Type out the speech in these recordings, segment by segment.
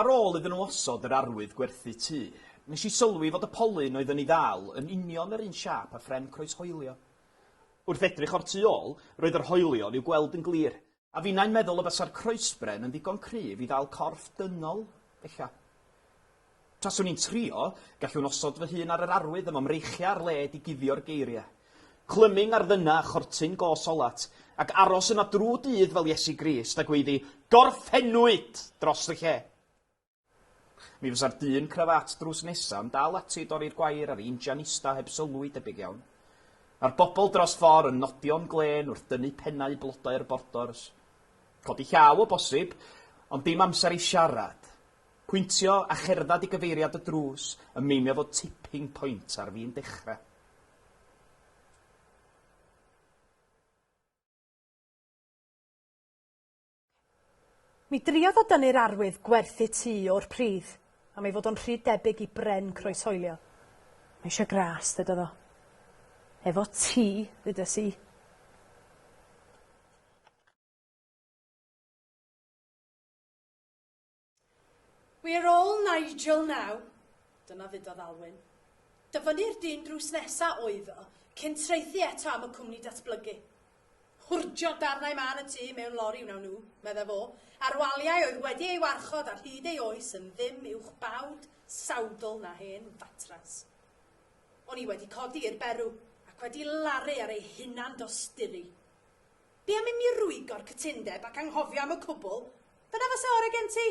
Ar ôl iddyn nhw osod yr arwydd gwerthu tŷ, nes i sylwi fod y polyn oedd yn ei ddal yn union yr un siâp â phren croeshoelio. Wrth edrych o'r tu ôl, roedd yr hoelion i'w gweld yn glir, a finnau'n meddwl y bysa'r croesbren yn ddigon cryf i ddal corff dynol, ella. Taswn i'n trio, gallwn osod fy hun ar yr arwydd yma mreichiau ar led i guddio'r geiriau. Clyming ar ddyna a chortyn go solat, ac aros yna drw dydd fel Iesu Grist, a gweiddi, Gorffennwyd! dros y lle. Mi fysa'r dyn crafat drws nesa yn dal ati i dorri'r gwair a'r injan ista heb sylw i debyg iawn. A'r bobl dros ffor yn nodio'n glên wrth dynnu pennau blodau'r bordors. Codi llaw o bosib, ond dim amser i siarad. Pwyntio a cherddad i gyfeiriad y drws yn meinio fod tipping point ar fin dechra. Mi driodd o dynnu'r arwydd gwerthu tŷ o'r pridd am ei fod o'n rhy debyg i bren croeshoelio. Mae eisiau gras, ddedodd o. Efo ti, ddedes i. Wi ar ôl Nigel naw! Dyna ddudodd Alwyn. Dyfynnu'r dyn drws nesa oedd o, cyn traethu eto am y cwmni datblygu. Hwrdio darnau mân y tŷ mewn lori wnawn nhw, meddai fo, a'r waliau oedd wedi ei warchod ar hyd ei oes yn ddim uwch bawd sawdl na hen fatras. O'n i wedi codi i'r berw, ac wedi laru ar ei hunan-dosturi. Be am i mi rwygo'r cytundeb ac anghofio am y cwbl? Dyna fase ore gen ti?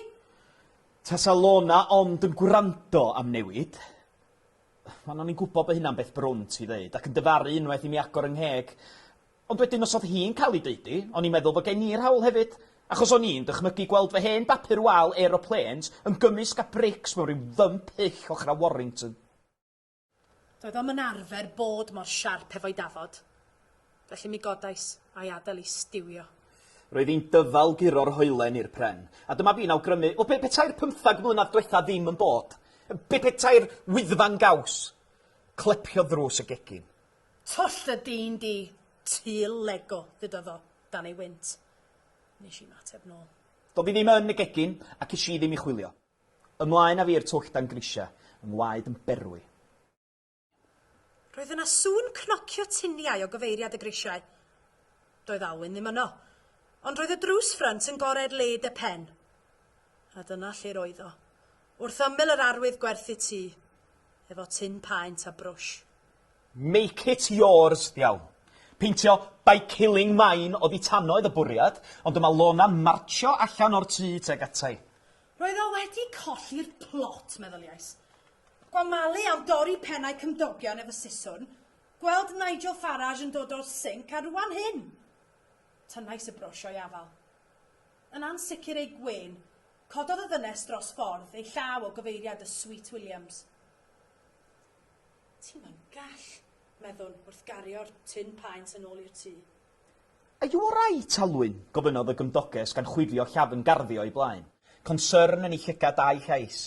Tasa Lorna ond yn gwrando am newid. Wel, o'n i'n gwybod bod hynna'n beth brwnt i ddeud, ac yn dyfaru unwaith i mi agor 'y ngheg. Ond wedyn os oedd hi'n cael ei deud hi, o'n i'n meddwl fod gen i'r hawl hefyd, achos o'n i'n dychmygu gweld fy hen bapur wal aeroplanes yn gymysg â brics mewn rhyw fymp hyll ochr â Warrington. Doedd o'm yn arfer bod mor siarp hefo'i dafod, felly mi godais a'i adael i stiwio. Roedd hi'n dyfal guro'r hoelen i'r pren, a dyma fi'n awgrymu, wel, be petai'r pymthag mlynedd dwetha ddim yn bod? Be petai'r Wyddfa'n gaws? Clepiodd ddrws y gegin. Twll y dyn di, ty Lego, ddudodd o, dan ei wynt. Wnes i ymateb nôl. Doedd hi ddim yn y gegin, ac es i ddim i chwilio. Ymlaen a fi i'r twll dan grisiau, yng ngwaed yn berwi. Roedd yna sŵn cnocio tuniau o gyfeiriad y grisiau. Doedd Alwyn ddim yno. Ond roedd y drws ffrynt yn gored led y pen. A dyna lle'r oedd o, wrth ymyl yr arwydd gwerthu tŷ, efo tin paent a brwsh. Make it yours! Iawn. Peintio by killing mine oddi tano oedd y bwriad, ond dyma Lona'n martsio allan o'r tŷ tuag ata i. Roedd o wedi colli'r plot, meddyliais. Gwa Mali am dorri pennau cymdogion efo siswrn, gweld Nigel Farage yn dod o'r sinc, a rwan hyn! Tynnais y brwsh o'i afal. Yn ansicr ei gwên, cododd y ddynes dros ffordd ei llaw o gyfeiriad y Sweet Williams. Ti'm yn gall! meddwn, wrth gario'r tin paent yn ôl i'r tŷ. Are you all right, Alwyn? gofynnodd y gymdoges gan chwifio llafn garddio o'i blaen, concern yn ei llygad a'i llais.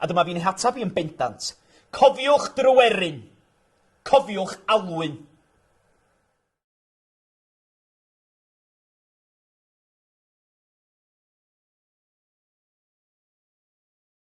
A dyma fi'n eich ateb i yn bendant. Cofiwch, Dryweryn! Cofiwch, Alwyn!